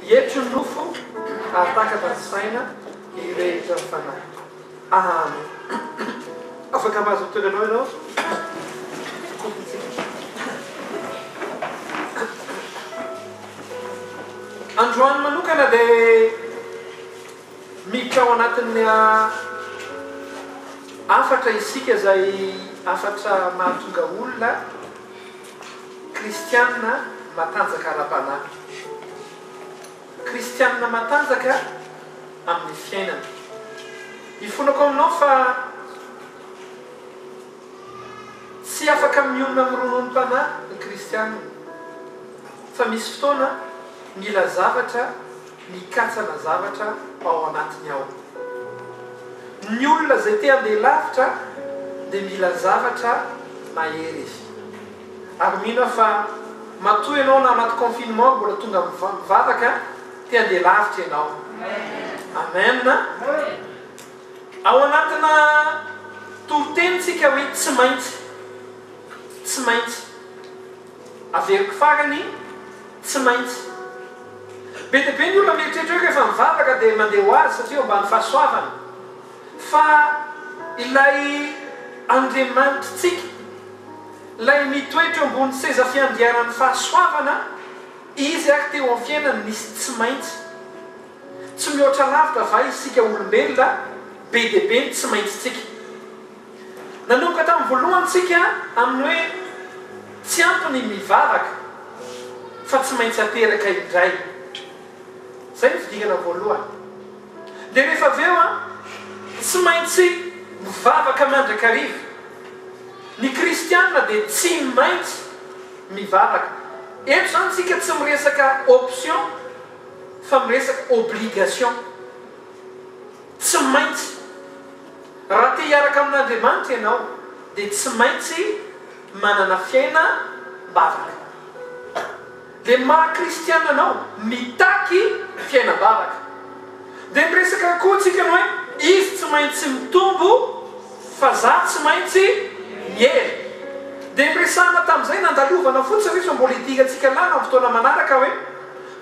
Hietry ny nofo, hahatakatra ny saina, hirehitra ny fanahy. Amen. Afaka mahazo toeranao ianao? Kofintsika. Androany manokana dia Miditra ao anatin'ny hafatra isika izay hafatra mahatonga olona kristiana matanjaka ara-panahy. Kristiana matanjaka amin'ny fiainana. Ifonako aminao fa tsy afaka mionona amin'ny rononom-panahy ny kristiana fa misy fotoana mila zavatra. mikatsana zavatra ao anatiny ao. Ny olona izay te handeha lavitra dia mila zavatra mahery izy. Ary mino aho fa matoa ianao na anaty confinement mbola tonga mivavaka te handeha lavitra ianao. Amen. Ao anatina toritenintsika hoe tsy maintsy. Tsy maintsy. Averiko farany, tsy maintsy. Be dia be ny olona mieritreritra hoe rehefa mivavaka dia mandeha ho azy satria eo ambany fahasoavana. Fa ilay Andriamanitritsika, ilay mitoetra eo ambonin'ny seza fiandrianan'ny fahasoavana, Izy ary teo amin'ny fiainany nisy tsy maintsy. Tsy mihoatra lavitra va isika olombelona be dia be ny tsy maintsitsika? Nanomboka tamin'ny voalohany tsika amin'ny hoe tsy ampy ny mivavaka fa tsy maintsy ateraka indray. Izay ny fidingana voalohany. Dia rehefa avy eo an, tsy maintsy mivavaka mandrakariva. Ny kristiana dia tsy maintsy mivavaka. Eto izany tsika tsy miresaka option fa miresaka obligation. Tsy maintsy. Raha te hiaraka amin'Andriamanitra ianao dia tsy maintsy manana fiaina mbavaka. Dia maha kristiana anao mitaky fiainam-bavaka. Dia niresaka koa tsika ny hoe izy tsy maintsy mitombo fa za tsy maintsy miely. Dia niresahana tamin'izay nandalovana fotsiny ry fa mbola hidirantsika lava amin'ny fotoana manaraka hoe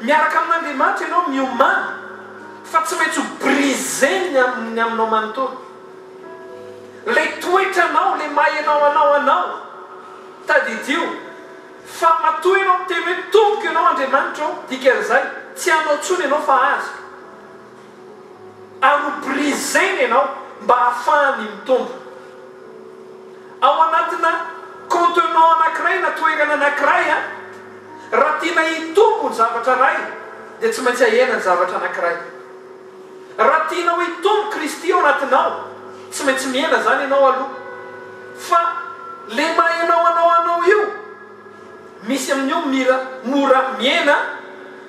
miaraka amin'Andriamanitra ianao miomana. Fa tsy maintsy ho brisé ny amin'ny aminao manontolo. Ilay toetranao, ilay maha ianao anao anao. Tadidio fa matoa ianao miteny hoe tompoko ianao Andriamanitra ô, dikan'izay tsy anao intsony ianao fa azoko. Ary ho brisé ny anao mba hahafahany mitombo. Ao anatina contenant anankiray na toerana anankiray a, raha tiana hitombo ny zavatra iray dia tsy maintsy ahena ny zavatra anankiray. Raha tianao hitombo Kristy ao anatinao, tsy maintsy mihena izany ianao aloha. Fa le mahaenao anao anao io, misy amin'io mira mora mihena,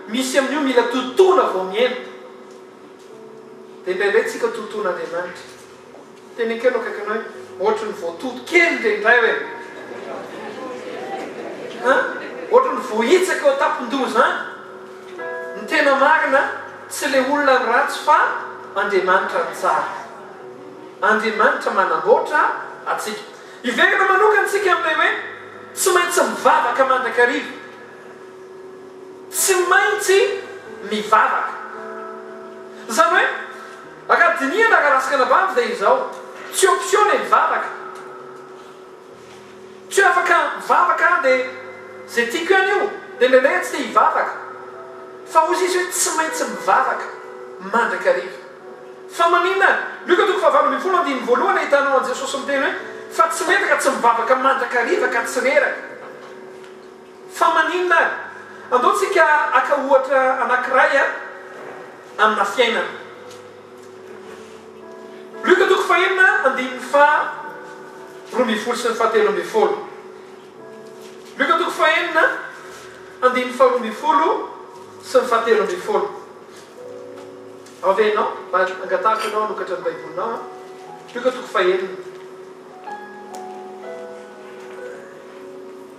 misy amin'io mila totoina vao mihena. Dia indraindray tsika totoina Andriamanitra. Teny akelo akaiky anao iny ohatry ny voatoto kely ndre indray hoe an! ohatry ny voahitsaka eo an-tampon-doha izany, ny tena marina tsy ilay olona no ratsy fa Andriamanitra no tsara, Andriamanitra manamboatra antsika. Hiverina manokana isika amin'ilay hoe tsy maintsy mivavaka mandrakariva, tsy maintsy mivavaka izany hoe, Aka dinihana aka raha skanabavy dia izao, tsy option le mivavaka, tsy afaka mivavaka aho dia ze tiako ihany io, dia indraindray aho tsy te hivavaka, fa hozy izy hoe tsy maintsy mivavaka mandrakariva, fa maninona, Lioka toko fahavalo ambin'ny folo andininy voalohany ahitanao an'i Jesosy miteny hoe, fa tsy metraka tsy mivavaka mandrakariva ka tsy reraka. Fa maninona ary? Andao tsika haka ohatra anankiray amina fiainana. Lioka toko fahenina andininy faha roa ambin'ny folo sy ny faha telo ambin'ny folo. Lioka toko fahenina andininy faha roa ambin'ny folo sy ny faha telo ambin'ny folo. Ao ve ianao? Mba angatahako ianao hanokatra ny Baibolinao an. Lioka toko fahenina.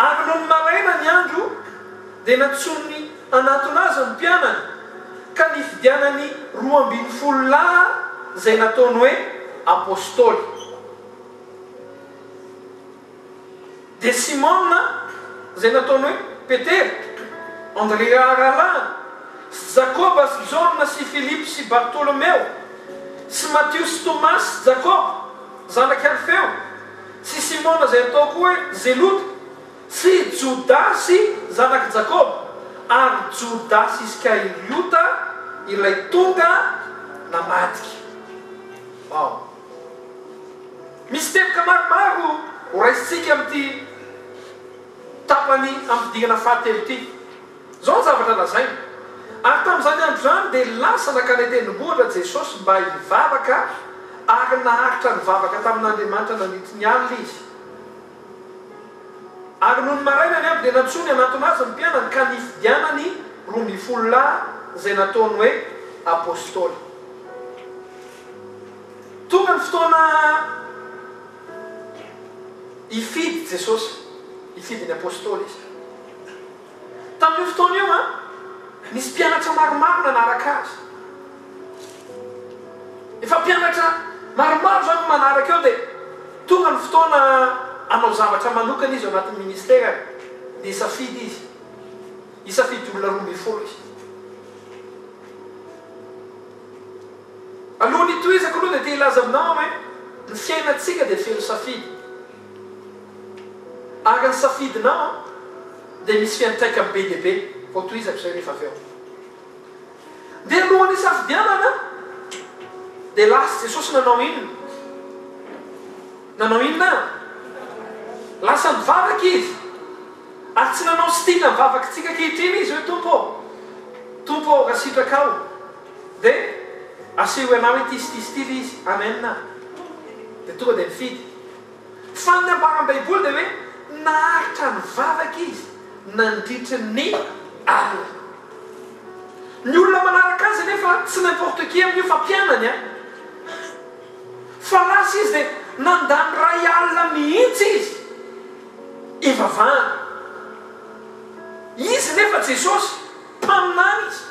Ary nony maraina ny andro, dia nantsoin'ny anatona azy ny mpianany, ka nifidianany roa ambin'ny folo lahy izay nataony hoe apostoly. Dia Simona, izay nataony hoe Petera, Andrea rahalahiny, sy Jakoba sy Jaona sy Filipo sy Bartolomeo, sy Matio sy Tomasy sy Jakoba, zanak'i Alfeo, Tsy i Simona izay ataoko hoe Zelota, tsy i Jodasy zanak'i Jakoba, ary Jodasy Iskariota ilay tonga namadika. Wow! Misy teboka maromaro horaisintsika amin'ity tapany ampidirana fahatelo ity. Izao ny zavatra lazainy, Ary tamin'izany andro izany dia lasa nankany an-tendrombohitra Jesosy mba hivavaka ary naharitra nivavaka tamin'Andriamanitra nandritry ny alina izy. Ary nony marainany avy dia nantsoiny hanatona azy ny mpianany ka nifidianany roa ambin'ny folo lahy izay nataony hoe apostoly. Tonga ny fotoana hifidy Jesosy, hifidy ny apostoly izy. Tamin'io fotoana io, nisy mpianatra maromaro nanaraka azy. Efa mpianatra maromaro izao no manaraka eo dia tonga ny fotoana hanao zavatra manokana izy ao anatin'ny ministerany. Nisafidy izy. Hisafidy olona roa ambin'ny folo izy. Alohan'ny hitohizako aloha dia te hilaza aminao aho hoe ny fiainantsika dia feno safidy. Ary ny safidinao dia misy fiantraikany be dia be, vao tohizako izay rehefa avy eo. Dia alohan'ny hisafidianana dia lasa Jesosy nanao inona? Nanao inona? Lasa nivavaka Izy. Ary tsy nanao sitina ny vavakantsika ankehitriny Izy hoe Tompo ô, Tompo ô, raha sitrakao dia asehoy anao ity sy ity sy ity ilay izy. Amen. Dia tonga dia nifidy. Fa ny nambaran'ny Baiboly dia hoe naharitra nivavaka izy nandritry ny alina. Ny olona manaraka azy anefa tsy n'importe qui amin'io fa mpianany an! Fa lasa izy dia nandany iray alina mihitsy izy hivavahana. Izy nefa Jesosy, Mpaminany izy.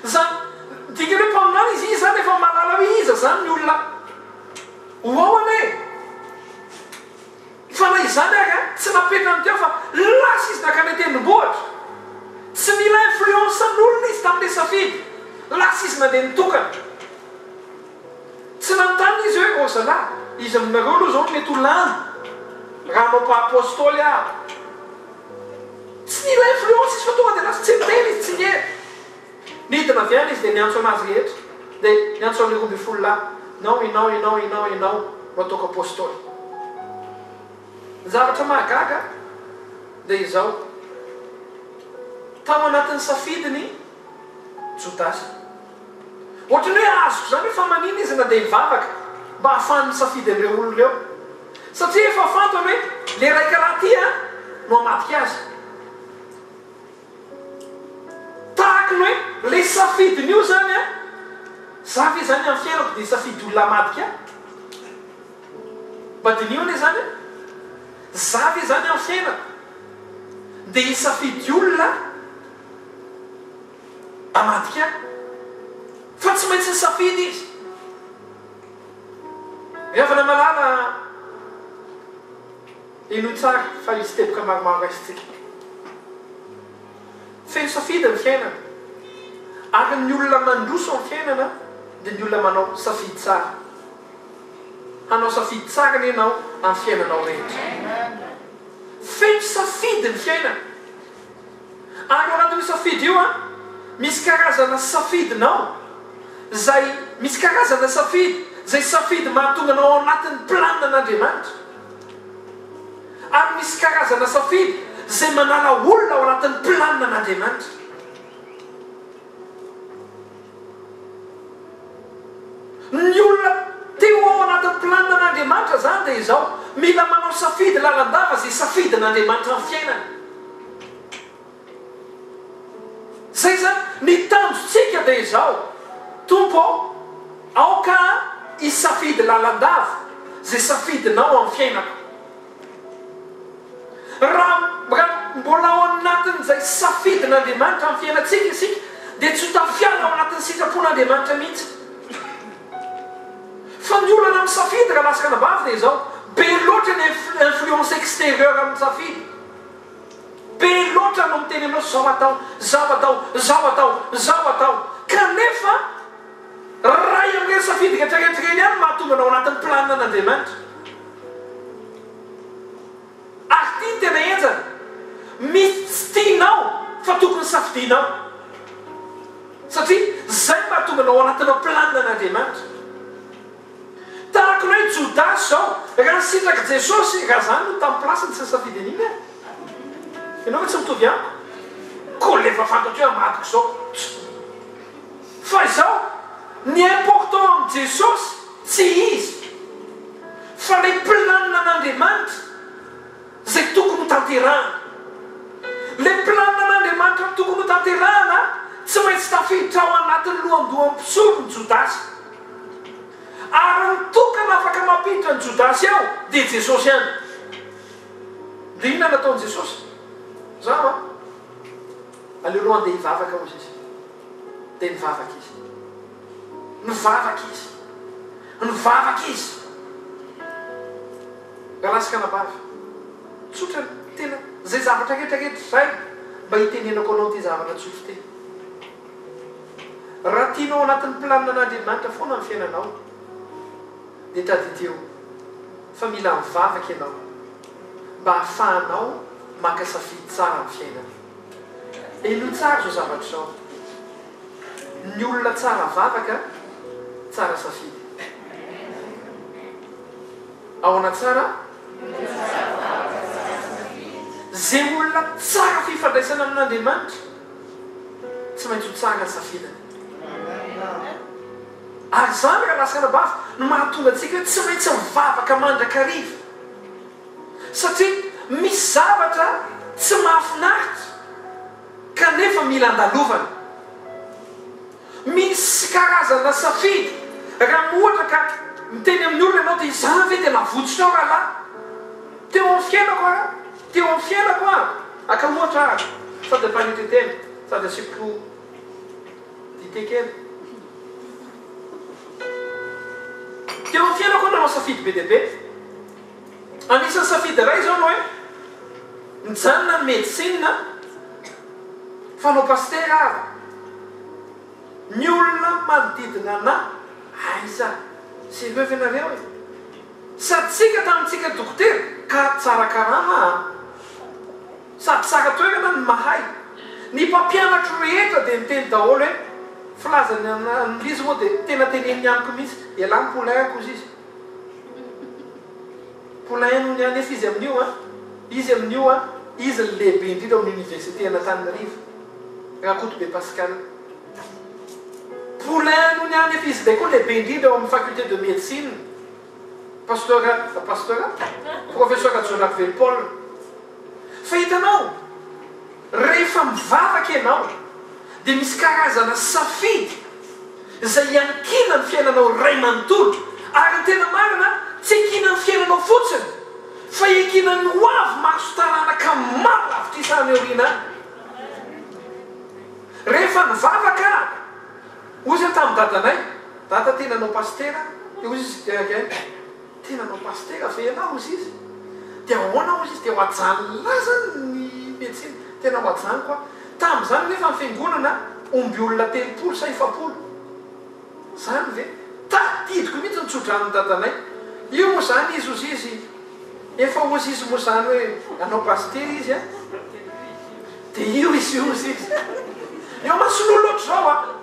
Zany dikany hoe mpaminany izy, izy zany efa mahalala hoe iza zany ny olona ho ao anie e! Fa na izany ary an, tsy napetrany teo fa lasa izy nankany an-tendrombohitra. Tsy nila influence an'olona izy tamin'ilay safidy, lasa izy nandeha nitokana. Tsy nanontany izy hoe ô zalahy, iza aminareo aloha zao no mety ho lany raha hanao mpahapostoly aho? Tsy nila influence izy fa tonga dia lasa tsy miteny izy, tsy niheno. Nidina avy any izy dia niantso anazy rehetra, dia niantso an'ireo roa ambin'ny folo lahy, Inao, inao, inao, inao, inao no ataoko apostoly. Ny zavatra mahagaga dia izao, tao anatin'ny safidiny Jodasy. Ohatran'ny hoe azoko izany hoe fa manina izy na dia hivavaka mba hahafahany misafidy an'ireo olona ireo. Satria efa fantany hoe ilay raika raha ity an no hamadika azy. Tahaka ny hoe ilay safidiny io izany an, za ve izany amin'ny fiainako dia hisafidy olona hamadika ahy? Mba diniho anie izany an, za ve izany amin'ny fiainako dia hisafidy olona. Amadika fa tsy maintsy nisafidy izy. Ry havana malala, henoy tsara fa hisy teboka maromaro raisintsika. Feno safidy ny fiainana, ary ny olona mandroso amin'ny fiainana dia ny olona manao safidy tsara. Hanao safidy tsara anie ianao amin'ny fiainanao rehetra. Feno safidy ny fiainana. Ary ao anatin'io safidy io an, misy karazana safidinao izay, misy karazana safidy izay safidy mahatonga anao ao anatin'ny plan an'Andriamanitra. Ary misy karazana safidy izay manala olona ao anatin'ny plan an'Andriamanitra. Ny olona teo ao anatin'ny planinan'Andriamanitra izany dia izao, mila manao safidy lalandava izay safidin'Andriamanitra amin'ny fiainany. Izay izany, ny tanjontsika dia izao, Tompo ô, aoka aho hisafidy lalandava izay safidinao amin'ny fiainako. Raha mbola ao anatin'izay safidin'Andriamanitra amin'ny fiainantsika isika, dia tsy ho tafihana ao anatin'ny sitrapon'Andriamanitra mihitsy. Fa ny olana amin'ny safidy raha lasaka anabavy dia izao, be loatra ny influence extérieure amin'ny safidy. Be loatra no miteny anao zao atao, zao atao, zao atao, zao atao, kanefa, Iray amin'ireny safidy rehetrarehetra ireny ihany no mahatonga anao anatin'ny planina an'Andriamanitra. Ary ity no tena henjana, misy tsy tianao fa tokony safidianao. Satria izay no mahatonga anao anatina planina an'Andriamanitra. Tahaka ny hoe Jodasy izao, raha nisintrak'i Jesosy, raha izany no tamin'ny place-ny, tsy nisafidy an'iny aho. Ianao ve tsy mitovy amiko? Koa ilay efa fantatro hoe amadiko izao. Fa izao, ny important amin'i Jesosy tsy izy, fa ilay planina an'Andriamanitra izay tokony ho tanterahana. Ilay planina an'Andriamanitra tokony ho tanterahana tsy maintsy tafiditra ao anatin'ny lohandohan'ny mpisolo ny Jodasy. Ary ny tokana afaka mampiditra ny Jodasy ao dia Jesosy ihany. Dia inona no ataon'i Jesosy? Mazava an? Aleo aloha handeha hivavaka hozy izy. dia nivavaka izy. Nivavaka izy. Nivavaka izy. Rahalahy sy anabavy, tsotra ny tena izay zavatra rehetra rehetra izay mba hitenenako anao ity zavatra tsotra ity. Raha tianao anatin'ny planina an'Andriamanitra foana ny fiainanao, dia tadidio fa mila mivavaka ianao mba hahafahanao maka safidy tsara amin'ny fiainana. Elo tsara izao zavatra izao. Ny olona tsara vavaka, tsara safidy. Ahoana tsara? Izay olona tsara fifandraisana amin'Andriamanitra tsy maintsy ho tsara ny safidiny. Ary izany rahalahy sy anabavy no mahatonga antsika hoe tsy maintsy mivavaka mandrakariva. Satria misy zavatra tsy mahafinaritra kanefa mila andalovana. Misy karazana safidy, raha ohatra ka miteny amin'ny olona ianao dia izaho ve dia navotsotrao rahalahy? Teo amin'ny fiainako aho, teo amin'ny fiainako aho, aka ohatra aho sady ampanety tena sady asiako dite kely. Teo amin'ny fiainako aho nanao safidy be dia be. Anisan'ny safidy iray izao ny hoe mijanona ny medecine fa anao pasitera ary ny olona manodidina anah aiza sy ireo ve nareo e? Sady tsika tamintsika dokotera ka tsara karama a! Sady tsara toerana ny mahay. Ny mpampianatro rehetra dia niteny daholo hoe filazan'ny an'izy moa dia tena teneniny amiko mihitsy, elah ny poulain-ko hozy izy. Polaininy anefa izy amin'io an! Izy amin'io an! Izy ny lehibe indrindra ao amin'ny Oniversiten'Antananarivo, Rakotobe Pascal. Polainony anefa izy indray koa lehibe indrindra ao amin'ny Faculté de Médecine, Pasteur, Pasteur? Professeur Rajaonarivelo Paul. Fa hitanao, rehefa mivavaka ianao, dia misy karazana safidy izay hiankiana ny fiainanao iray manontolo. Ary ny tena marina, tsy hiankiana ny fiainanao fotsiny, fa hiankiana ny ho avy mahazo taranaka maro lavitrisa any aoriana any. Rehefa nivavaka aho, hoy izy tamin'i dadanay, Dada, te nanao pasitera, dia hoy izy, Eehh. Tena mba pasitera ve ianao hozy izy dia ahoana hozy izy dia ho ajanony azany ny medecine tena ho ajanoko aho tamin'izany anefa ny fiangonana omby olona telopolo sa efapolo zany ve tadidiko mihitsy ny tsodranon'i dadanay io moa zany izy hozy izy efa hozy izy moa zany hoe anao pasitera izy an dia io izy io hozy izy eo mason'olona ohatr'izao an.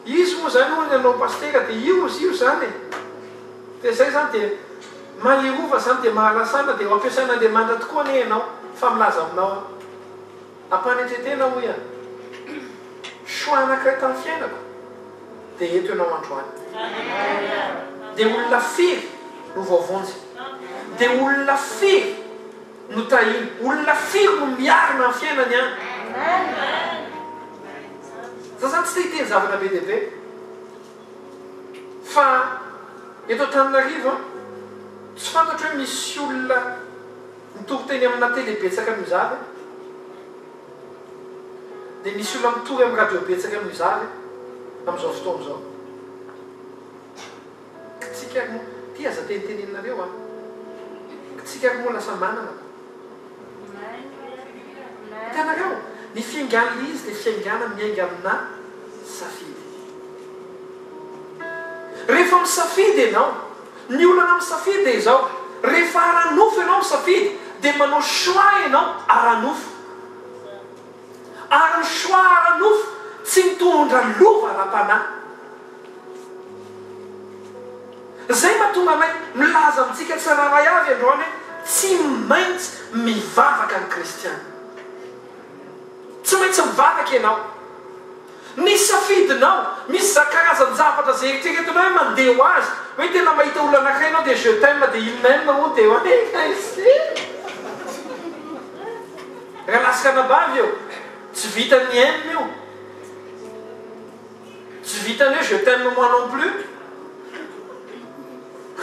Izy moa zany hono ianao pasitera dia io izy io izany e! dia izay izany dia maherova izany dia mahalasana dia ho ampiasain'Andriamanitra tokoa anie ianao fa milaza aminao aho ampanetretena hoy aho choix anankiray tamin'ny fiainako dia eto ianao androany dia olona firy no voavonjy dia olona firy Notahiny. Olona firy no miarina amin'ny fiainany an? Za zany tsy te hiteny zavatra be dia be fa eto Antananarivo an, tsy fantatro hoe misy olona mitory teny amina tele betsaka noho iza ve? Dia misy olona mitory amin'ny radio betsaka noho iza ve amin'izao fotoana izao? Kitsika ary moa ty aza teniteneninareo a! Kitsika ary moa lasa manana ko! Hitanareo? Ny fiaingan'ilay izy dia fiaingana miainga aminà safidy. Rehefa misafidy ianao, ny olana amin'ny safidy dia izao, rehefa ara-nofo ianao misafidy dia manao choix ianao ara-nofo. Ary ny Shwa ara-nofo tsy mitondra lova ara-panahy. Izay mahatonga anay milaza amintsika tsirairay avy androany hoe tsy maintsy mivavaka ny Kristiana. Tsy maintsy mivavaka ianao. Ny safidinao, misy za karazan-javatra izay eritreretinao hoe mandeha ho azy, hoe tena mahita olona anankiray ianao dia je t'aime dia il m'aime hono dia hoe Raha lasitra anabavy eo, tsy vitan'ny aime io, tsy vitan'ny hoe je t'aime moi non plus,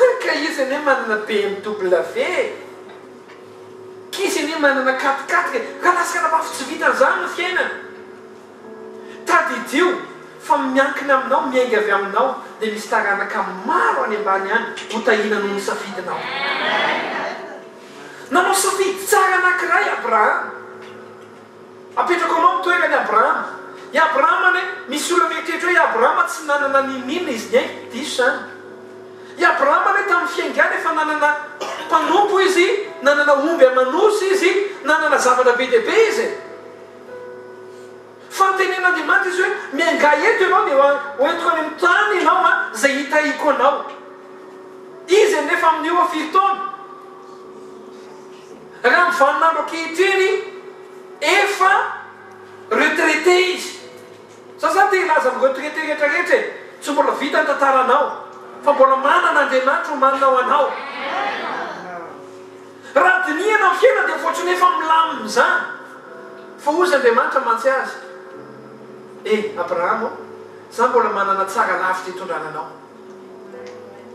hum ka izy anie manana BMW e, k'izy anie manana quat quatre e, raha lasitra anabavy tsy vitan'izany ny fiainana, Tadidio fa miankina aminao, miainga avy aminao dia misy taranaka maro any ambany any hotahina noho ny safidinao. Nanao safidy tsara anankiray Abrahama. Apetrako aminao ny toeran'i Abrahama. I Abrahama anie, misy olona mieritreritra hoe i Abrahama tsy nanana n'inon'inona izy niaina. Diso izany. I Abrahama anie tamin'ny fiaingany efa nanana mpanompo izy, nanana omby aman'osy izy, nanana zavatra be dia be izy e. Fa nitenen'Andriamanitra izy hoe, Miangaha eto ianao dia hoentiko any amin'ny tany ianao an, izay hitahiako anao. Izy anefa amin'ny ora firy taona? Raha amin'ny vanin'andro ankehitriny, efa retraité izy. Za zany te hilaza amin'ny retraité rehetra rehetra e, tsy mbola vita ny tantaranao, fa mbola manana Andriamanitra omanina ho anao. Raha dinihana ny fiainany dia voatsoina efa milamina izany fa hoy izy Andriamanitra mantsy azy E Abraham ô, za mbola manana tsara lavitra hitondrana anao.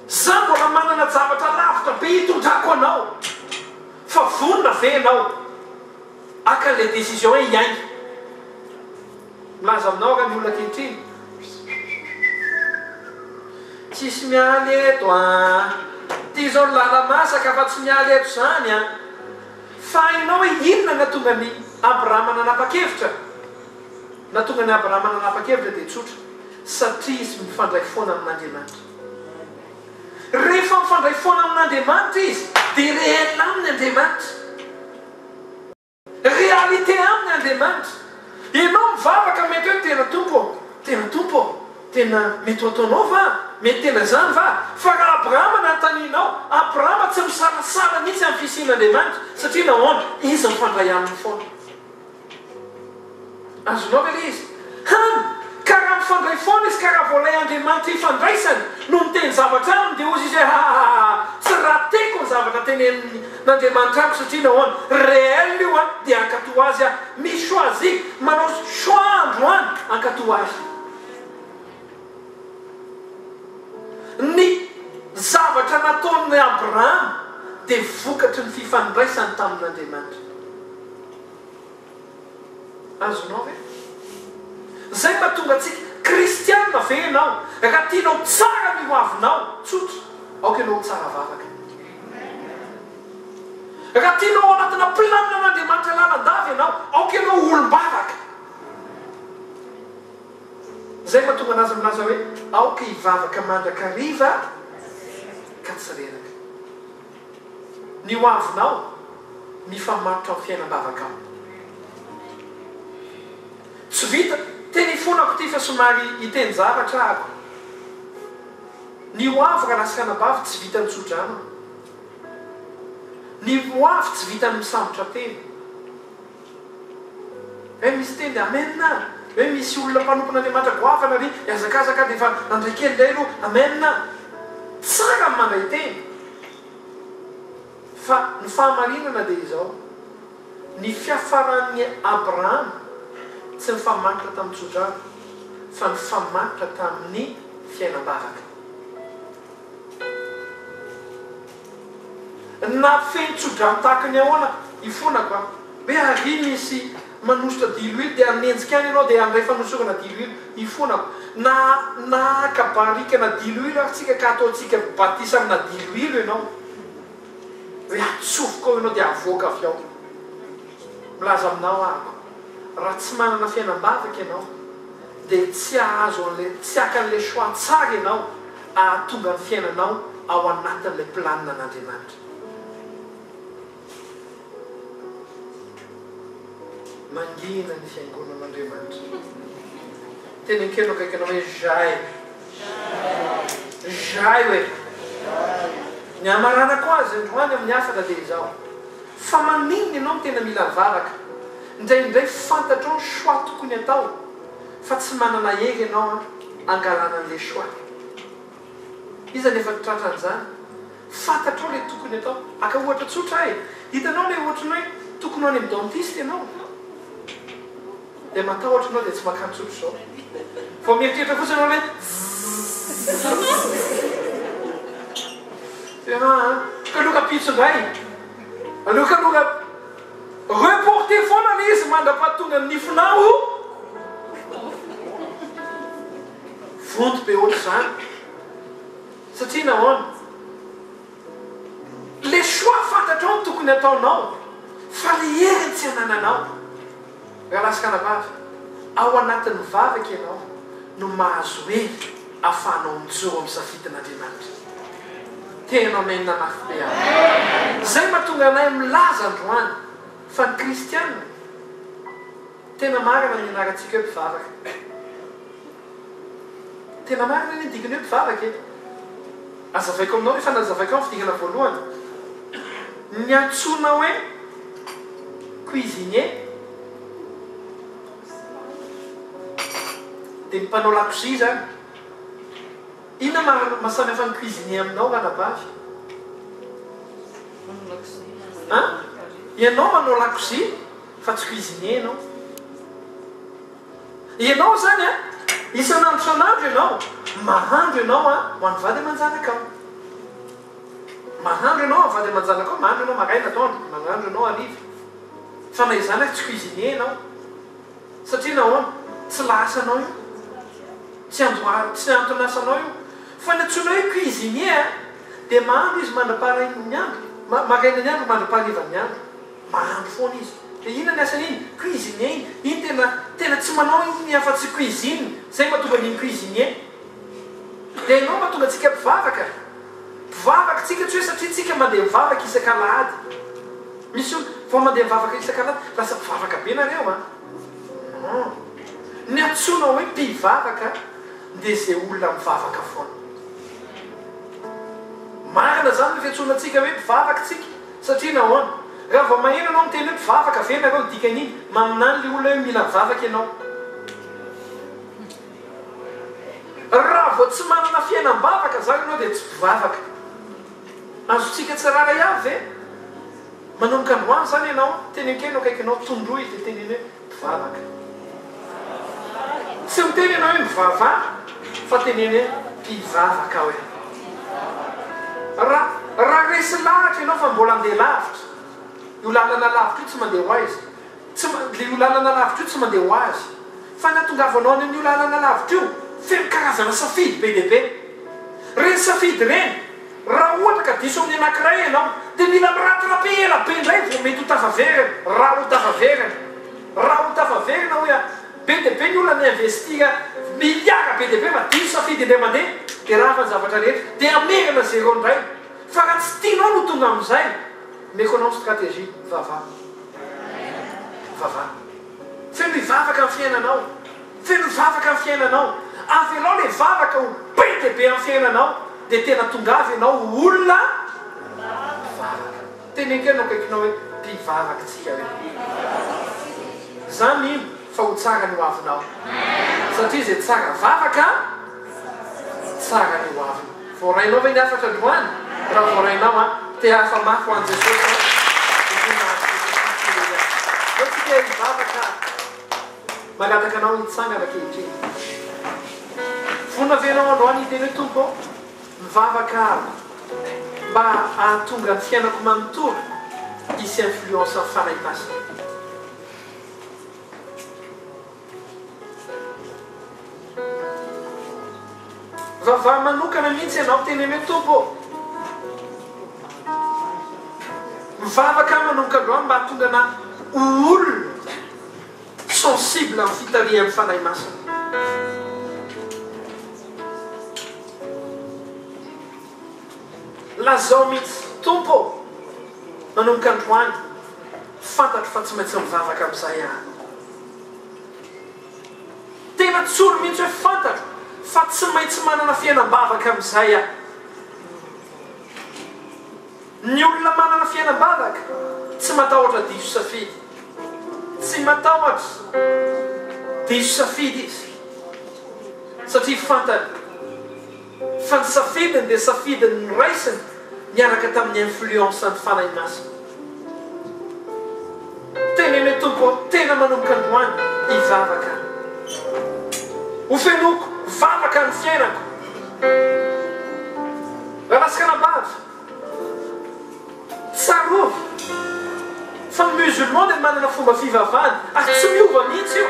Za mbola manana javatra lavitra be hitondrako anao. Fa vonona ve ianao haka le décision hoe hiainga? Milaza aminao nga ny olona ankehitriny. Tsisy mialy eto a! Ty zao ny lalamasaka fa tsy mialy eto zany a! Fa hainao hoe inona nahatonga an'i Abrahama nanapa-kevitra? Nahatonga an'i Abrahama nanapa-kevitra dia tsotra, satria izy mifandray foana amin'Andriamanitra. Rehefa mifandray foana amin'Andriamanitra izy dia réel aminy Andriamanitra. Réalité aminy Andriamanitra. Ianao mivavaka mety hoe tena Tompo ô, tena Tompo ô, tena mety ho ataonao va? Mety tena izany va? Fa raha Abrahama nanontanianao, Abrahama tsy misalasala mihitsy amin'ny fisian'Andriamanitra satria nahoana? Izy mifandray aminy foana. Azonao ve ilay izy? Hany ka raha mifandray foana izy ka raha vao ilay Andriamanitra ifandraisany no miteny zavatra aminy dia hozy izy hoe hahahaha tsy rateko ny zavatra teneniny n'Andriamanitra amiko satria nahoana? Réel io an dia hankatoa azy aho. Mi choisi, manao choix androany hankatoa ahy. Ny zavatra nataon'i Abrahama dia vokatry ny fifandraisany tamin'Andriamanitra. Azonao ve? Izay mahatonga antsika kristiana ve ianao? Raha tianao tsara ny ho avinao, tsotra, aoka ianao ho tsara vavaka. Raha tianao ao anatina planin'Andriamanitra lalandava ianao, aoka ianao ho olom-bavaka. Izay mahatonga an'azy milaza hoe, aoka hivavaka mandrakariva ka tsy reraka. ny hoavinao mifamatotra am fiainambavaka ao. Tsy vita, teny ifonako ity fa somary hiteny zavatra aho. Ny hoavy rahalahy sy ranabavy tsy vitan'ny tsodrano. Ny hoavy tsy vitan'ny misambotra tena. Ve misy teny amen a? Ve misy olona mpanompon' Andriamanitra goavana ry hiazakazaka dia efa nandray kely indray aloha amen a? Tsara ny mandray teny fa ny fahamarinana dia izao, ny fiafaran'ny Abrahama tsy nifamaritra tamin'ny tsodrano fa nifamaritra tamin'ny fiainam-bavaka. Na feno tso-drano tahaka ny ahoana i fonako an! Hoe àry misy manosotra diloilo dia hanenjika any ianao dia handray fanosorana diloilo i fonako. Na na haka barikana diloilo ary tsika ka hataontsika batisa amina diloilo ianao. Hoe atsofoka ao ianao dia havoaka avy ao. Milaza aminao àrko, raha tsy manana fiainam-bavaka ianao dia tsy hahazo an'ilay, tsy haka an'ilay choix tsara ianao. hahatonga ny fiainanao ao anatin'ilay planina an'Andriamanitra. Mangina ny fiangonan'Andriamanitra. Teny an-keno akaiky anao hoe Jai. Jai hoe. Ny hamaranako azy androany amin'ny hafatra dia izao, fa maninona ianao no tena mila mivavaka? Indraindray fantatrao ny choix tokony atao. Fa tsy manana hery ianao an, angalana an'le choix. Iza no efa tratra an'izany? Fantatrao le tokony atao. Aka ohatra tsotra aho e, hitanao le ohatran'ny hoe tokony ho any amin'ny dentiste ianao, dia matahotra ianao dia tsy makany tsotra izao. Vao mieritreritra fotsiny ianao hoe zzzzzz. Dia aa, aloka pitsindray, aloka aloka. Reporter foana le izy mandrapatonany nifinao o! Vonto be ohatr'izany satria nahoana? Le choix fantatrao ny tokony ataonao fa le heriny tsy anananao. Rahalahy sy ranabavy, ao anatin'ny vavaka ianao no mahazo hery ahafahanao mijoro amin'ny safidin'Andriamanitra. Tena Amen mafy be ary. Izay mahatonga anay milaza androany fa ny kristiana tena marina ny ianarantsika hoe mpivavaka. Tena marina anie ny dikany hoe mpivavaka e! Azavaiko aminao rehefa nazavaiko ny fidinana voalohany. Ny antsoina hoe cuisinier dia ny mpanao lakozia izany. Inona maha mahasamihafa ny cuisinier aminao ranabavy? An! Ianao manao lakozia fa tsy cuisinier ianao. Ianao izany an! Isan'andro isan'andro ianao mahandro ianao ho an'ny vady aman-janakao. Mahandro ianao ho an'ny vady aman-janakao, mahandro ianao maraina, atoandro, mahandro ianao hariva. Fa na izany ary tsy cuisinier ianao. Satria nahoana? Tsy lahasanao io. Tsy andoha, tsy anton'asanao io. Fa ny antsoina hoe cuisinier dia mahandro izy mandra-paharian'ny andro, marainan'ny andro mandra-paharivan'ny andro. Mahandro foana izy. Dia inona ny asan'iny? Cuisinier iny. Iny tena, tena tsy manao iny afa tsy cuisine. Zay mahatonga an'iny cuisinier. Dia ianao mahatonga antsika mpivavaka. Mpivavaka tsika tsy hoe satria tsika mandeha mivavaka isak'alahady. Misy olona, vao mandeha mivavaka isak'alahady, lasa mpivavaka be nareo an. Non. Ny antsoina hoe mpivavaka dia zay olona mivavaka foana. Marina zany ny fiantsoana antsika hoe mpivavaka tsika. Satria nahoana? Raha vao maheno ianao miteny hoe mpivavaka ve ianareo ny dikan'iny? Maminany ilay olona hoe mila mivavaka ianao. Raha vao tsy manana fiainam-bavaka izany ianao dia tsy mpivavaka. Azontsika tsy raharaiavy ve? Manomboka androany izany ianao, tenenkenao akaikinao, tondroy dia teneno hoe. mpivavaka. Tsy miteny ianao hoe mivavaha fa teneno hoe mpivavaka aho e. Raha resy lahatra ianao fa mbola handeha lavitra, io lalana lavitra io tsy mandeha ho aiza? Io lalana lavitra io tsy mandeha ho azy. Fa ny hatongavanao any amin'io lalana lavitra io feno karazana safidy be dia be. Ireny safidy ireny. Raha ohatra ka diso amin'ny anankiray ianao dia mila miratirape ela be indray vao mety ho tafaverina, raha ho tafaverina. Raha ho tafaverina hoy aho, be dia be ny olona ni-investir milliards be dia be fa diso safidy indray mandeha dia rafa ny zavatra rehetra dia hamerina zero indray. Fa raha tsy tianao no tonga amin'izay, méconnaissent stratégie, vava. Vava. Feno hivavaka ny fiainanao. Feno vavaka ny fiainanao, avelao le vavaka ho be dia be amin'ny fiainanao dia tena tongava ianao ho olona mpivavaka. Teneno kely ny eo akaikinao hoe, mpivavaka tsika hoe. Za mino fa ho tsara ny hoavinao satria izay tsara vavaka tsara ny hoaviny. Voarainao ve ny hafatra androany? Raha voarainao an, te hahafa mafy ho an'i Jesosy an, dia tena mahazo Jesosy mihitsy ireny an. Zao tsika hivavaka. Mangataka anao hitsangana ankehitriny. Vonona ve ianao androany hiteny hoe, Tompo ô, mivavaka aho mba hahatonga ny fiainako manontolo hisy influence ny Fanahy Masina? Vavaha manokana mihitsy ianao, teneno hoe, Tompo ô, mivavaka aho manomboka androany mba hahatonga anah ho olona Sensible amin'ny fitarihan'ny Fanahy Masina. Lazao mihitsy, Tompo ô, manomboka androany, fantatro fa tsy maintsy mivavaka amin'izay aho. Tena tsory mihitsy hoe fantatro fa tsy maintsy manana fiainam-bavaka amin'izay aho. Ny olona manana fiainam-baraka tsy matahotra diso safidy. Tsy matahotra diso safidy izy satria fantany fa ny safidiny dia safidiny noraisiny niaraka tamin'ny influence an'ny Fanahy Masina. Teneno Tompo ô, tena manomboka androany hivavaka. Ho fenoiko vavaka ny fiainako. Raha lasy kanabavy. Tsarovy fa musulman dia manana fomba fivavahany ary tsy miova mihitsy io.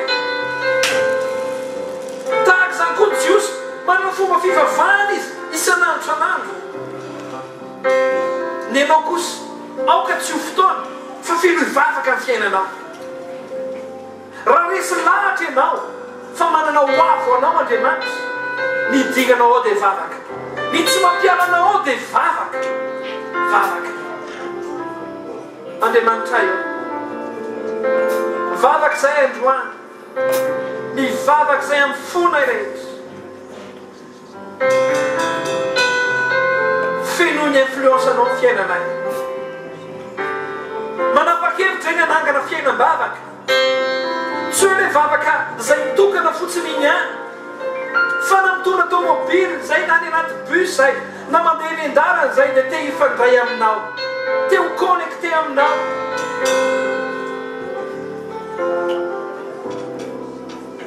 Tahaka izany koa ny jiosy, manana fomba fivavahany izy isan'andro isan'andro. Ny anao kosa, aoka tsy ho fotoana fa feno hivavaka ny fiainanao. Raha resy lahatra ianao fa manana ho avo anao Andriamanitra, ny dingana ao dia vavaka, ny tsy mampiala anao ao dia vavaka, vavaka. Andriamanitray ô, mivavaka izahay androany, mivavaka izahay amin'ny fo-nay rehetra. Feno ny influence anao ny fiainanay. Manapa-kevitra ny hanangana fiainam-bavaka. Tsy hoe ilay vavaka izay mitokana fotsiny iny ihany. Fa na mitondra tomobily izay, na any anaty bus izay, na mandeha eny an-dalana izay dia te hifandray aminao. Te ho connecté aminao.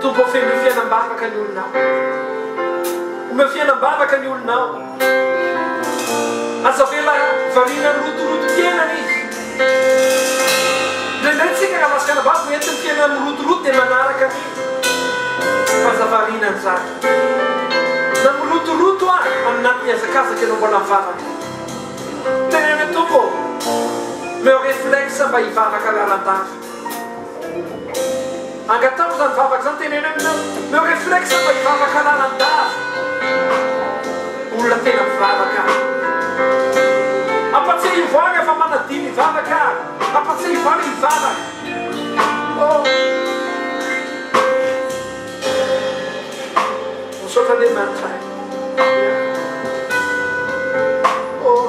Tompo ô fenoy fiainam-bavaka ny olonao Omeo fiainam-bavaka ny olonao Aza avela variana ny rotorotom-piainana izy Indraindray tsika raha lasa fianam-bavaka Entiny fiainana mirotoroto dia manaraka an'izy Fa aza variana an'izany Na mirotoroto ary aminà mihazakazaka ianao mbola mivavaka. Teneno tompoko ô! Omeo réflexe mba hivavaka lalandava. Angataho izany vavaka izany, teneno hoe omeo omeo réflexe mba hivavaka lalandava. Olona tena mpivavaka aho. Ampatsiahivo ahy rehefa manadino hivavaka aho. Ampatsiahivo ahy hivavaka. Oh. Misaotra Andriamanitra eh. Oh.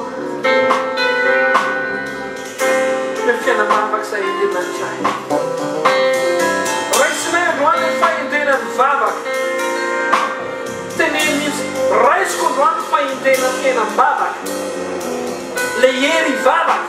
Omeo fiainana mavak'izay Andriamanitra eh. Raisina androany ny fahendrena ny vavaka. Teneno mihitsy, raisiko androany ny fahendrena tena am-bavaka. Ilay hery hivavaka.